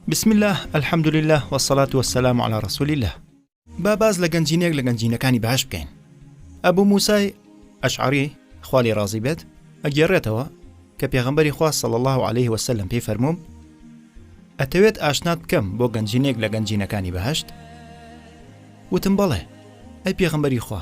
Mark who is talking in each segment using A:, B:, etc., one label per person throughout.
A: بسم اللە الحمد للە وسلات وسلام على رسول اللە با باز لە گەنجینێک لە گەنجینەکانی بەهش بکەین ئەبوو موسای ئەشعری خالی ڕازی بێت ئەگەڕێتەوە کە پێغمبەری خوا صل الله عليه وسلم پێی فەرمووم ئەتەوێت ئاشنات بکەم بۆ گەنجینێک لە گەنجینەکانی بەهشت وتم بەڵێ ئەی پێغمبەری خوا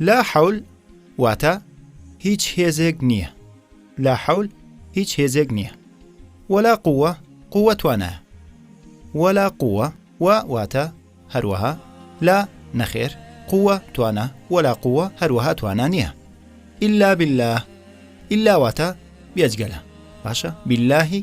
A: لا حول واتە، هیچ هێزێک نییە. لا حول هیچ هێزێک نییە. وەلا قووە قووە توانایە. وەلا قووە و واتە هەروەها لا نەخێر قووە توانا وەلا قووە هەروەها توانا نییە. ئللا بالله ئللا واتە بێجگەلە باشە باللهی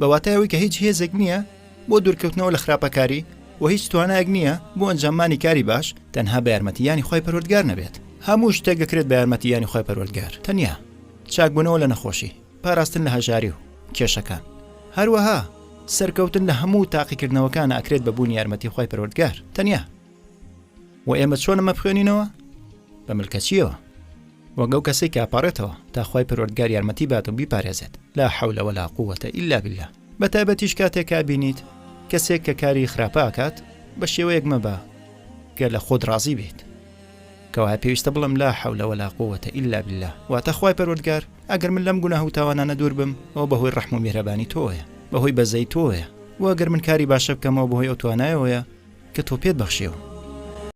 A: بە واتای ئەوەی کە هیچ هێزێک نییە بۆ دوورکەوتنەوە لە خراپەکاری و هیچ توانایەک نییە بۆ ئەنجاممانی کاری باش تەنها بە یارمەتیانی خی پەروەردگار نەبێت هەموو شتێک دەکرێت بە یارمەتیانی خی پەروەردگار تەنیا چاکبوونەوە لە نەخۆشی پاراستن لە هەژاری و کێشەکان هەروەها سەرکەوتن لە هەموو تاقیکردنەوەکان ئەکرێت بە بوون یارمەتی خی پەروەردگار تەنیا و ئێمە چۆن ئەمە بخوێنینەوە بە ملکەچیەوە وەک ئەو کەسێک کە ئەپارێتەوە تاخوای پەروەردگار یارمەتی بات و بیپارێزێت لا حەولە وەلا قووەتە ئیلا باللە بە تایبەتیش کاتێک کابینیت کەسێک کە کاری خراپە ئاکات بە شێوەیەک مەبە کە لە خۆت ڕازی بێت کەوایە پێویستە بڵم لا حەولە وەلا قووەتە ئیلا باللە واتە خوای پەروەردگار ئەگەر من لەم گوناه و تاوانانە دوور بم ئەو بەهۆی ڕەحم و میهرەبانی تۆیە بەهۆی بەزەی تۆیە وەگەر من کاری باشە بکەمەوە بەهۆی ئەو توانایەوەیە کە تۆ پێت بەخشێەوە